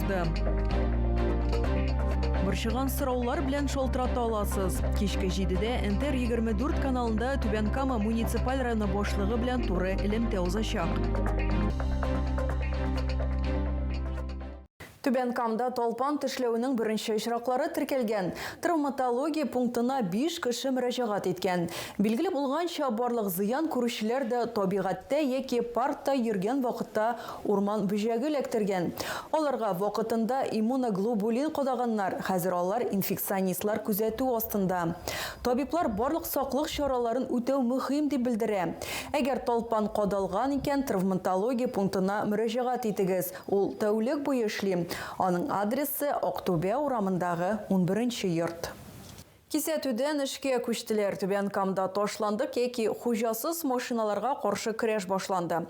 чыкты. Борчыган сораулар белән шалтырата аласыз. Кичке җидедә Энтер 24 каналында Түбән Кама муниципаль районы башлыгы белән туры элемтә узачак. Түбән Камда талпан тешләүнең беренче очраклары теркәлгән. Травматология пунктына 5 кеше мөрәҗәгать иткән. Билгеле булганча, барлык зыян күрүчеләр дә табигатьтә яки паркта йөргән вакытта Урман бөҗәге эләктергән. Аларга вакытында иммуноглобулин кадаганнар, хәзер алар инфекционистлар күзәтү астында. Табиблар барлык саклык чараларын үтәү мөһим дип белдерә. Әгәр талпан кадалган икән, травматология пунктына мөрәҗәгать итегез, ул тәүлек буе эшли. Аның адресы, Актүбә урамындагы унберенче йорт. Кисәтүдән эшкә күчтеләр. Түбән Камда ташландык яки хуҗасыз машиналарга каршы көрәш башланды.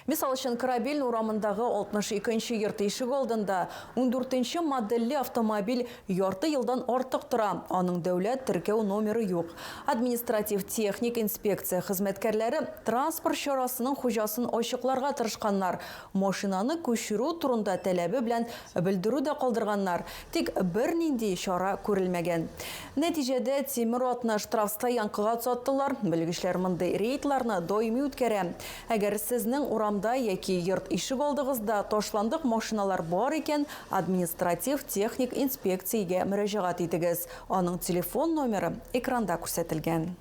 Мисал өчен, Корабельный урамындагы 62 нче йорт ишегалдында ундүртенче модельле автомобиль ярты елдан артык тора, аның дәүләт теркәү номеры юк. Административ-техник инспекция хезмәткәрләре транспорт чарасының хуҗасын ачыкларга тырышканнар, Машинаны күчерү турында таләбе белән белдерү дә калдырганнар, тик бернинди чара күрелмәгән. Нәтиҗәдә, тимер атны штрафстоянкага озаттылар. Белгечләр мондый рейдларны даими үткәрә. Әгәр сезнең урамда яки йорт ишегалдыгызда ташландык машиналар бар икән, административ-техник инспекциягә мөрәҗәгать итегез. Аның телефон номеры экранда күрсәтелгән.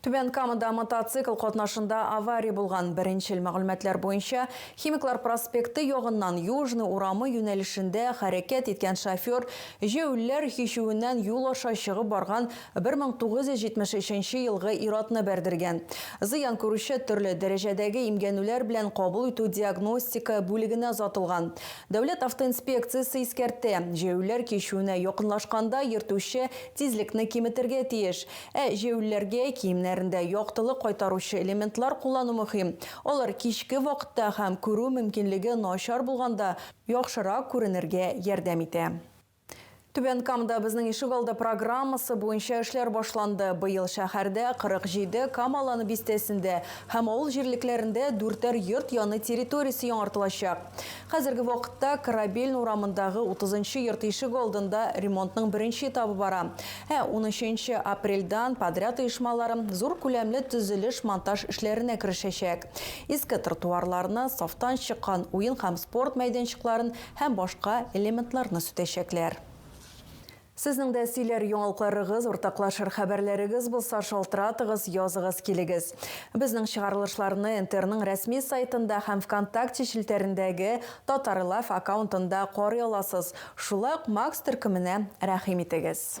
Түбән Камада мотоцикл катнашында авария булган. Беренчел мәгълүматлар буенча, Химиклар проспекты ягыннан Южный урамы юнәлешендә хәрәкәт иткән шофер җәүләр һичүеннән юл аша чыгып барган 1973 елгы ир-атны бәрдергән. Зыян күрүче төрле дәрәҗәдәге имгәнүләр белән кабул итү-диагностика бүлегенә озатылган. Дәүләт автоинспекциясе искәртә, җәяүлеләр кичүенә якынлашканда йөртүче тизлекне киметергә тиеш. Ә җәяүлеләргә киемнәрендә яктылык кайтаручы элементлар куллану мөһим. Алар кичке вакытта һәм күрү мөмкинлеге начар булганда яхшырак күренергә ярдәм итә. Түбән Камда безнең ишегалды программасы буенча эшләр башланды. Быел шәһәрдә, 47 Кам Аланы бистәсендә һәм авыл җирлекләрендә дүртәр йорт яны территориясе яңартылачак. Хәзерге вакытта Корабельный урамындагы 30 нчы йорт ишегалдында ремонтның беренче этабы бара, ә унөченче апрельдән подряд оешмалары зур күләмле төзелеш-монтаж эшләренә керешәчәк. Иске тротуарларны, сафтан чыккан уен һәм спорт мәйданчыкларын һәм башка элементларны сүтәчәкләр. Сезнең дә сөйләр яңалыкларыгыз, уртаклашыр хәбәрләрегез булса, шалтыратыгыз, языгыз, килегез. Безнең чыгарылышларны НТРның рәсми сайтында һәм ВКонтакте челтәрендәге Татарлайв аккаунтында карый аласыз. Шулай ук Макс төркеменә рәхим итегез.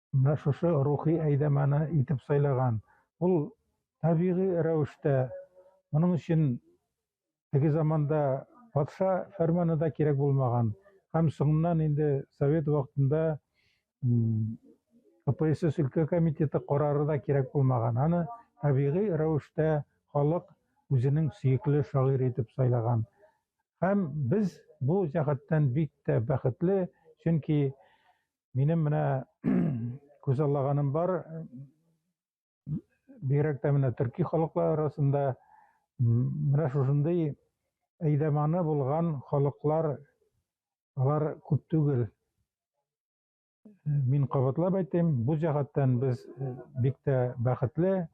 менә шушы рухи әйдәманы итеп сайлаган. Ул табигый рәвештә. Моның өчен теге заманда патша фәрманы да кирәк булмаган. Һәм соңыннан инде совет вакытында КПСС өлкә комитеты карары да кирәк булмаган. Аны табигый рәвештә халык үзенең сөекле шагыйрь итеп сайлаган. Һәм без бу җәһәттән бик тә бәхетле, чөнки Минем менә күзаллаганым бар. Бигрәк тә менә төрки халыклар арасында менә шушындый әйдәманы булган халыклар алар күп түгел. Мин кабатлап әйтәм, бу җәһәттән без бик тә бәхетле.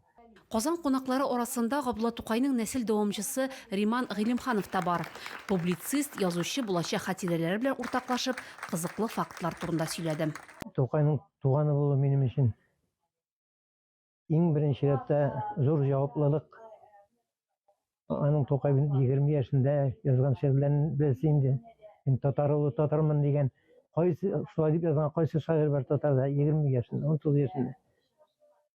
Казан кунаклары арасында Габдулла Тукайның нәсел дәвамчысы Риман Гыйлемханов та бар. Публицист, язучы булачак хатирәләре белән уртаклашып, кызыклы фактлар турында сөйләде. Тукайның туганы булу минем өчен, иң беренче рәттә, зур җаваплылык. Аның Тукай 20 яшендә язган шигырьләрен без инде мин татар улы татармын дигән кайсы шулай дип язган кайсы шагыйрь бар татарда 20 яшендә 19 яшендә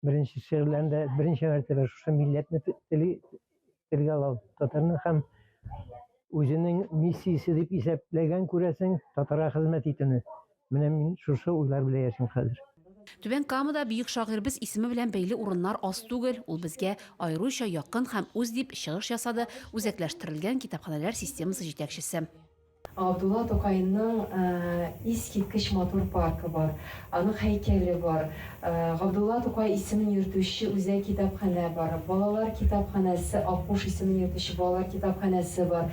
беренче шигырьләрендә беренче мәртәбә шушы милләтне тели телгә алу татарны һәм үзенең миссиясе дип исәпләгән күрәсең татарга хезмәт итүне Менә мин шушы уйлар белән яшим хәзер. Түбән Камада бөек шагыйрьбез исеме белән бәйле урыннар аз түгел, ул безгә аеруча якын һәм үз, дип чыгыш ясады Үзәкләштерелгән китапханәләр системасы җитәкчесе. Габдулла Тукайның искиткеч матур паркы бар, аның һәйкәле бар, Габдулла Тукай исемен йөртүче үзәк китапханә бар, балалар китапханәсе, Аккуш исемен йөртүче балалар китапханәсе бар.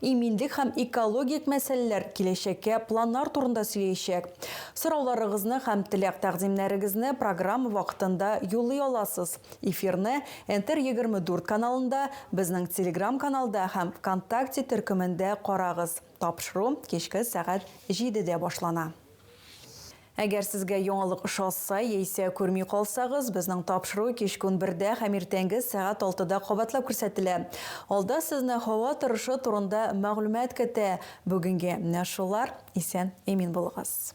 Иминлек һәм экологик мәсьәләләр киләчәккә планнар турында сөйләячәк. Сорауларыгызны һәм теләк-тәкъдимнәрегезне программа вакытында юллый аласыз. Эфирны Нтр егерме дүрт каналында, безнең Телеграм-каналда һәм Вконтакте төркемендә карагыз. Тапшыру кичке сәгать җидедә башлана. Әгәр сезгә яңалык ошаса, яисә күрми калсагыз, безнең тапшыру кичке унбердә һәм иртәнге сәгать алтыда кабатлап күрсәтелә. Алда сезне һава торышы турында мәгълүмат көтә. Бүгенге менә шулар. Исән, имин булыгыз.